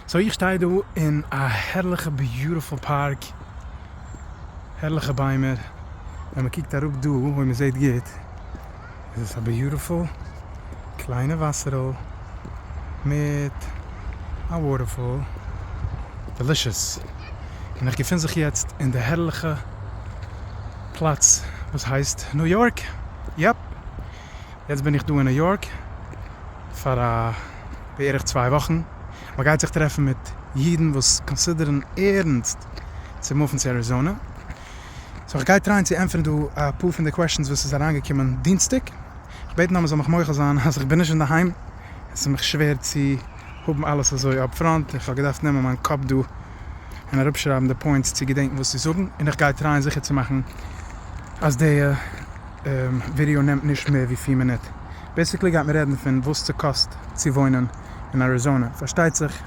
סאו איך שטיי דא אין א הערליכע ביוטיפול פארק, הערליכע ביימער, ווען מען קוקט אראפ דא אויב מען זעט גוט איז עס א ביוטיפול קליינע וואסער'ל מיט א וואטערפאל, דעלישעס, און איך געפין זיך יעצט אין די הערליכע פלאץ וואס הייסט ניו יארק, יאפ, יעצט בין איך דא אין ניו יארק פאר א. בערך צוויי וואכן, מען גייט זיך טרעפן מיט אידן וואס קאנסידערן ערנסט צו מופן צו אריזאנע, סאו איך גיי טרייען צו ענטפערן דא אפאר פון די קוועשאנס וואס איז אריינגעקומען דינסטאג, איך בעט נאר מען זאל מיך מוחל זיין אז איך בין נישט אינדערהיים, עס איז מיך שווער צו האבן אלעס אזוי אפפראנט, איך האב געדארפט נעמען מיין קאפ דא און אראפשרייבן די פוינטס צו געדענקן וואס צו זאגן, און איך גיי טרייען זיכער צו מאכן אז די. ווידעא נעמט נישט מער ווי פֿיר מינוט, בעסיקלי גייט מען רעדן פון וואס ס'קאסט צו וואוינען אין אריזאנע, פארשטייט זיך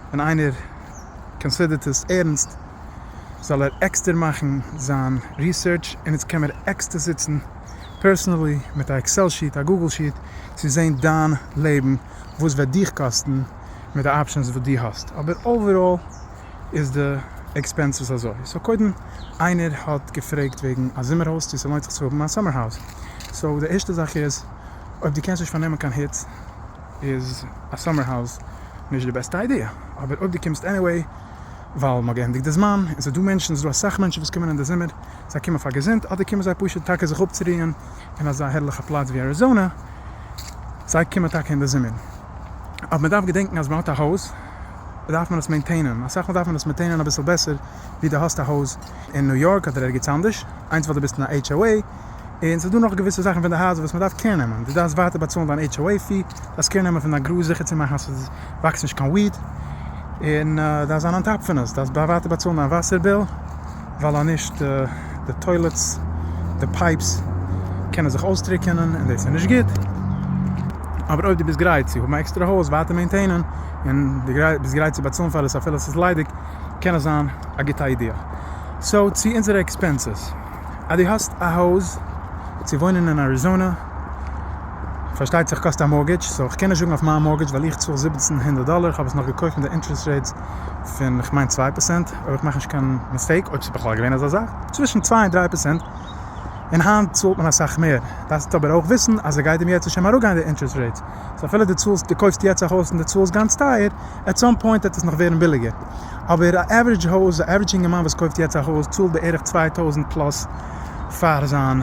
ווען איינער קאנסידערט עס ערנסט זאל ער עקסטער מאכן זיין ריסערטש, און איצט קען מען עקסטער זיצן פערסענעלי מיט א עקסעל שיעט א גוגל שיעט צו זעהן דיין לעבן וואס וועט דיך קאסטן מיט די אפשענס וואס דו האסט, אבער אוועראל. איז די עקספענסעס אזוי, סאו קודם איינער האט געפרעגט וועגן א זומער הויז צו ס'לוינט זיך צו האבן א סאמער האוז, סאו די ערשטע זאך איז אויב דו קענסט נישט פארנעמען קיין היץ איז א סאמער האוז נישט די בעסטע איידיע, אבער אויב דו קומסט עניוועי ווייל מ'האט געענדיגט די זמן, און ס'דא מענטשן, ס'דא אסאך מענטשן וואס קומען אין די זומער, זיי קומען פאר געזונט אדער קומען זיי פשוט טאקע זיך אפצוריען אין אזא הערליכע פלאץ ווי אריזאנע, זיי קומען טאקע אין די זומער, אבער מ'דארף געדענקן אז מ'האט א הויז. דארף מען עס מעינטעינען, אסאך מאל דארף מען עס מעטעינען אביסל בעסער ווי די האסט א הויז אין ניו יארק אדער ערגעץ אנדערש, איינס ווייל די ביסט אין א HOA, און ס'איז דא נאך געוויסע זאכן פון די הייזער וואס מ'דארף קער נעמען, די דארפסט ווייטער באצאלן דיין HOA פי, דארפסט קער נעמען פון דיין גראז זיכער צו מאכן אז ס'איז וואקסט נישט קיין וויד, און דארפסט זיין אן טאפ פון עס, דארפסט ווייטער באצאלן דיין וואסער ביל. ווייל אז נישט די טוילעטס די פייפס קענען זיך אויסטריקענען און דאס איז נישט גוט, אבער אויב דו ביסט גרייט צו האבן א עקסטערע הויז ווייטער מעינטעינען און דו ביסט גרייט צו באצאלן פאר עס אפילו עס איז ליידיג קען עס זיין א גוטע איידיע. סאו צו אונזערע עקספענסעס, אז דו האסט א הויז צו וואוינען אין אריזאנע פארשטייט זיך קאסט א מארגעדזש, סאו כ'קען נישט זאגן אויף מיין מארגעדזש ווייל איך צאל זיבעצן הונדערט דאלער, כ'האב עס נאך געקויפט מיט די אינטערעסט רעיטס פון כ'מיין צוויי פערסענט, אויב איך מאך נישט קיין מיסטעיק, אויב ס'איז בכלל געווען אזא זאך, צווישן צוויי און דריי פערצענט, און היינט צאלט מען אסאך מער, דארפסטו אבער אויך וויסן אז עס גייט אים יעצט נישט אים אראפגיין די אינטערעסט רעיטס, סאו אפילו דו צאלסט, דו קויפסט יעצט א הויז און דו צאלסט גאנץ טייער, עט סאם פוינט וועט עס נאך ווערן ביליגער, אבער א עווערעדזש הויז, א עווערעדזש אינגערמאן וואס קויפט יעצט א הויז צאלט בערך צוויי טויזנט פלאס פאר זיין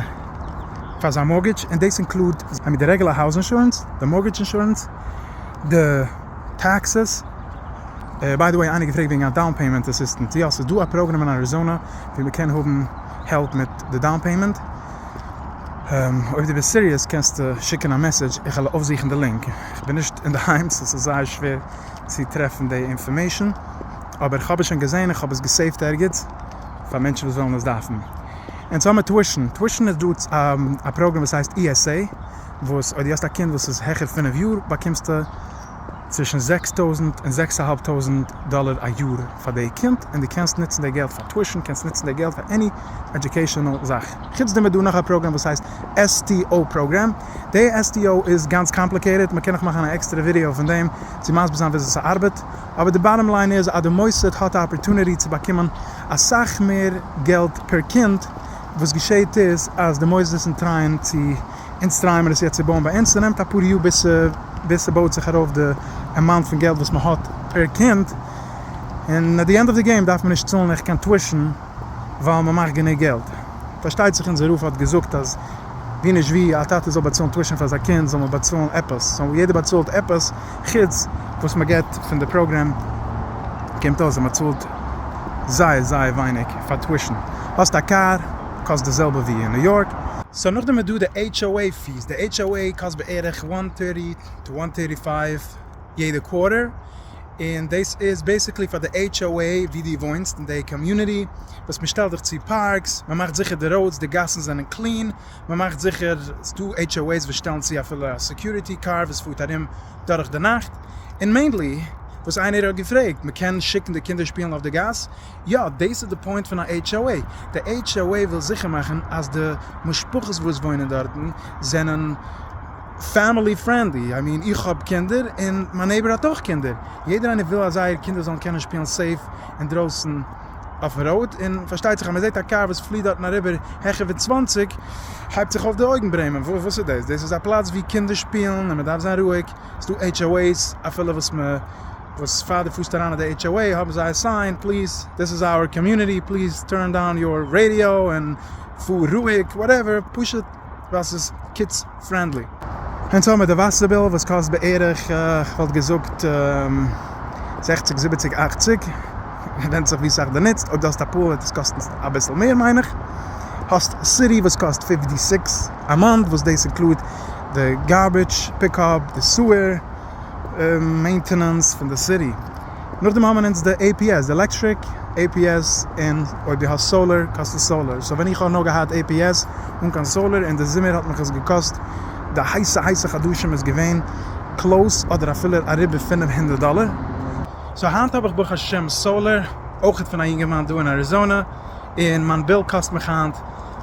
פאר זיין מארטגעדזש, און דאס אינקלודט די רעגולער האוז אינשורענס, די מארטגעדזש אינשורענס, די טעקסעס. ביי די וועי איינער געפרעגט וועגן א דאון פעימענט אסיסטענט, יא ס'איז דא א פראגראם אין אריזאנע ווי מ'קען האבן העלפ מיט די דאון פעימענט, אויב דו ביסט סיריעס קענסטו שיקן א מעסעדזש איך וועל אויפזוכן די לינק, איך בין נישט אינדערהיים סאו ס'איז זייער שווער צו טרעפן די אינפארמעישן, אבער איך האב עס שוין געזען איך האב עס געסעיווט ערגעץ פאר מענטשן וואס וועלן עס דארפן. און צוזאמען טווישן, טווישן איז דא א פראגראם וואס הייסט ESA וואס אויב דו האסט א קינד וואס איז העכער פינף יאר באקומסטו צווישן זעקס טויזנט און זעקס אהאלב טויזנט דאלער א יאר פאר די קינד, און דו קענסט נוצן די געלט פאר טושן, קענסט נוצן די געלט פאר עני עדיוקעישאנעל זאך. חוץ דעם איז דא נאך א פראגרעם וואס הייסט STO פראגרעם, די STO איז גאנץ קאמפליקעיטעד, מען קען נאך מאכן א עקסטערע ווידעא פון דעם צו מסביר זיין וויאזוי ס'ארבעט, אבער די באטטאם ליין איז אז די מוסד האט א אפערטוניטי צו באקומען אסאך מער געלט פער קינד, וואס געשעהט איז אז די מוסדות און טרייען צו. אונז טרייען מיר עס יעצט צו בויען ביי אונז, ס'נעמט אפאר יאר ביז ביז ס'בויט זיך ארויף די עמאונט פון געלט וואס מ'האט פער קינד, און עט די ענד אוו די געים דארף מען נישט צאלן עכט קיין טושן ווייל מ'מאכט גענוג געלט. פארשטייט זיך אונזער רב האט געזאגט אז ווי נישט ווי א טאטע זאל באצאלן טושן פאר זיין קינד זאל מען באצאלן עפעס, סאו יעדער באצאלט עפעס חוץ וואס מ'געט פון די פראגרעם, קומט אויס אז מ'צאלט זייער זייער ווייניג פאר טושן. האסט א קאר? קאסט די זעלבע ווי אין ניו יארק. סאו נאכדעם איז דא די HOA פיס, די HOA קאסט בערך one hundred thirty to one hundred thirty five יעדע קווארטער, און דאס איז בעסיקלי פאר די HOA ווי דו וואוינסט אין די קאמיוניטי, וואס מען שטעלט דיך צו פארקס, מען מאכט זיכער די ראודס, די גאסן זענען קלין, מען מאכט זיכער, ס'דא HOA'ס וואס שטעלן צו אפילו א סעקיוריטי קאר וואס פארט ארום דורך די נאכט, און מעינלי וואס איינער האט געפרעגט, מען קען שיקן די קינדער שפילן אויף די גאס, יא, דעיס איז די פוינט פון א HOA. די HOA וויל זיכער מאכן אז די משפחות וואס וואוינען דארטן זענען פעמילי פרענדלי, איי מין איך האב קינדער און מיין נעיבער האט אויך קינדער, יעדער איינער וויל אז זייער קינדער זאלן קענען שפילן סעיף אינדרויסן אויפן ראוד, און פארשטייט זיך אז מען זעט א קאר וואס פליעט דארטן אריבער העכער ווי צוואַנציק הייבט זיך אויף די אויגן ברעמען, וואס איז דעס? דעס איז א פלאץ ווי קינדער שפילן און מען דארף זיין רואיג, ס'דא HOA's אפילו וואס מען. וואס פאר די פארסט אריין אין די HOA האבן זיי א סיין פליז דיס איז אווער קאמיוניטי פליז טורן דאון יור רעדיא און פאר רואיג וואטעווער פשוט ווייל ס'איז קידס פרענדלי. און סאו מיט די וואסער ביל וואס קאסט בערך כ'וואלט געזאגט זעכציג זיבעציג אכציג ווענדט זיך ווי סאך דו נוצט אויב דו האסט א פול וועט עס קאסטן אביסל מער מיין איך האסט סיטי וואס קאסט פיפטי סיקס א מאנט וואס דאס אינקלוד די גארביטש פיקאפ די סוער מעינטענענס פון די סיטי, נאכדעם האבן אונז די עי פי עס, די עלעקטריק, עי פי עס, און אויב די האסט סאולער קאסט עס סאולער, סאו ווען איך האב נאר געהאט עי פי עס אן קיין סאולער און די זומער האט מיך עס געקאסט די הייסע הייסע חדשים איז געווען קלאוס אדער אפילו אריבער פֿינף הונדערט דאלער, סאו היינט האב איך ברוך השם סאולער, אויך פון א יונגערמאן דא אין אריזאנע, און מיין ביל קאסט מיך היינט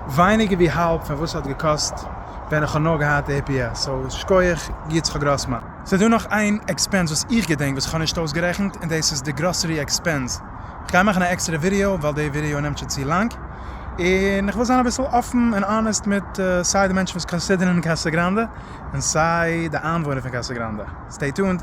ווייניגער ווי האלב פון וואס ס'האט געקאסט. ווען איך האב נאר געהאט עי פי עס, סאו שכוח יצחק גראסמאן. סאיז דא נאך איין עקספענס וואס איך געדענק וואס איך האב נישט אויסגערעכנט און דאס איז די גראסערי עקספענס, איך גיי מאכן א עקסטערע ווידיאו ווייל די ווידיאו נעמט שוין צו לאנג, און איך וויל זיין אביסל אפן און אנעסט מיט סיי די מענטשן וואס קאנסידערן קאסא גראנדע און סיי די איינוואוינער פון קאסא גראנדע, סטעי טונד.